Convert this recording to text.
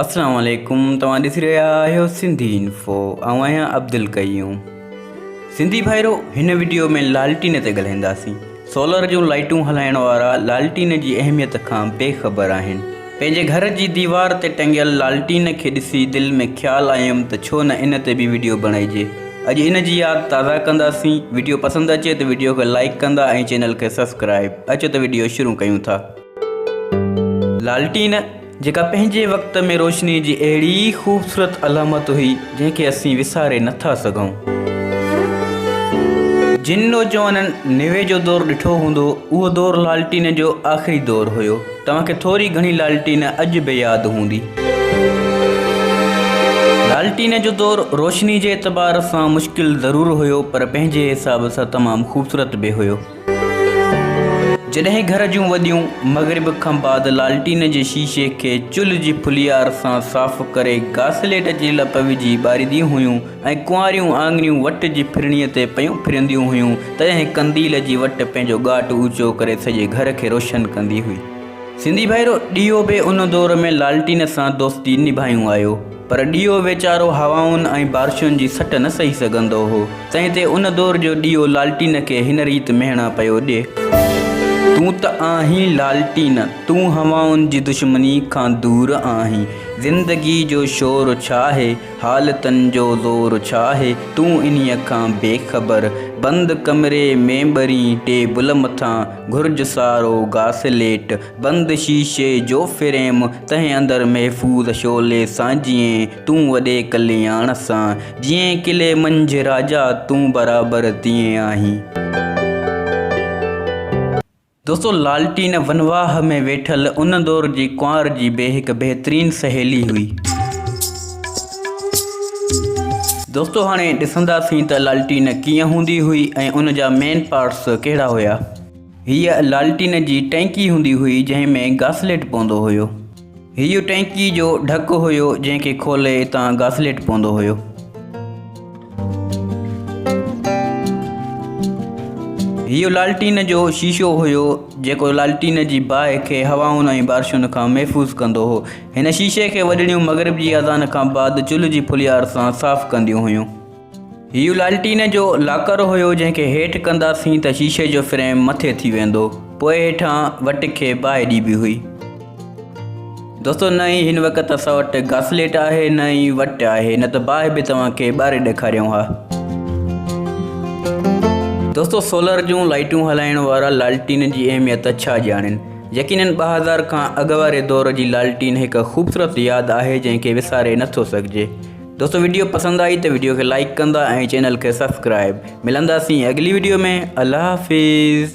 اسلام عليڪم توهان ڏسي رهيا آهيو سنڌي انفو آئون آهيان عبدالقيوم سنڌي ڀائرو هن وڊيو ۾ لالٽين تي ڳالهائينداسين سولر جون لائٽون هلائڻ وارا لالٽين جي اهميت کان بي خبر آهن پنهنجي گهر جي ديوار تي ٽنگيل لالٽين کي ڏسي دل ۾ خيال آيم ته ڇو نه ان تي به وڊيو بڻائجي اڄ ان جي ياد تازا ڪنداسين وڊيو پسند اچي ته وڊيو کي لائيڪ ڪندا ۽ چينل کي سبسڪرائيب اچو ته وڊيو شروع ڪيون ٿا لالٽين جيڪا پنهنجي وقت ۾ روشني جي اهڙي خوبصورت علامت هئي جنهن کي اسين وساري نه ٿا سگهون. جن نوجوانن نوي جو دور ڏٺو هوندو اهو دور لالٽين جو آخري دور هيو. توهان کي ٿوري گهڻي لالٽين اڄ به ياد هوندي. لالٽين جو دور روشني جي اعتبار سان مشڪل ضرور هيو پر پنهنجي حساب سان تمام خوبصورت به هيو. جڏهن گهر جون وڏيون مغرب کان بعد لالٽين جي شيشي کي چلهه جي ڦليار سان صاف ڪري گاسليٽ جي لپ وجهي ٻارينديون هيون ۽ ڪنواريون آڱريون وٽ جي ڦرڻي تي پيون ڦرنديون هيون تڏهن قنديل جي وٽ پنهنجو ڳاٽ اوچو ڪري سڄي گهر کي روشن ڪندي هئي. سنڌي ڀائرو ڏيئو به ان دور ۾ لالٽين سان دوستي نڀايون آيو. پر ڏيئو ويچارو هوائن ۽ بارشن جي سٽ نه سهي سگهندو هو، تنهن تي ان دور جو ڏيئو لالٽين کي هن ريت مهڻا پيو ڏي. تون ته آهين لالٽين، تون هوائن جي دشمني کان دور آهين. زندگي جو شور ڇا آهي، حالتن جو زور ڇا آهي، تون انهيء کان بي خبر. بند ڪمري ۾، ٻرين ٽيبل مٿان، گهرج سارو گاسليٽ، بند شيشي جو فريم، تنهن اندر محفوظ شعلي سان جئين تون وڏي ڪلياڻ سان، جئين قلعي منجهه راجا تون برابر تيئن آهين. دوستو لالٽين ونواهه ۾ ويٺل ان دور جي ڪنوار جي به هڪ بهترين سهيلي هئي. دوستو هاڻي ڏسنداسين ته لالٽين ڪيئن هوندي هئي ۽ ان جا مين پارٽس ڪهڙا هيا. هيء لالٽين جي ٽئنڪي هوندي هئي جنهن ۾ گاسليٽ پوندو هيو. هيء ٽئنڪي جو ڍڪ هيو جنهن کي کولي اتان گاسليٽ پوندو هيو. هيء لالٽين جو شيشو هيو جيڪو لالٽين جي باهه کي هوائن ۽ بارشن کان محفوظ ڪندو هو. هن شيشي کي وڏڙيون مغرب جي اذان کان بعد چلهه جي ڦليار سان صاف ڪنديون هيون. هيء لالٽين جو لاڪر هيو، جنهن کي هيٺ ڪنداسين ته شيشي جو فريم مٿي ٿي ويندو. پوء هيٺان وٽ کي باهه ڏبي هئي. دوستو نه ئي هن وقت اسان وٽ گاسليٽ آهي نه ئي وٽ آهي نه ته باهه به توهان کي ٻاري ڏيکاريون ها. دوستو سولر جون لائٽون هلائڻ وارا لالٽين جي اهميت ڇا ڄاڻين؟ يقينن ٻه هزار کان اڳ واري دور جي لالٽين هڪ خوبصورت ياد آهي جنهن کي وساري نٿو سگهجي. دوستو ويڊيو پسند آئي ته ويڊيو کي لائيڪ ڪندا ۽ چينل کي سبسڪرائيب ملنداسين اڳلي ويڊيو ۾ الله حافظ.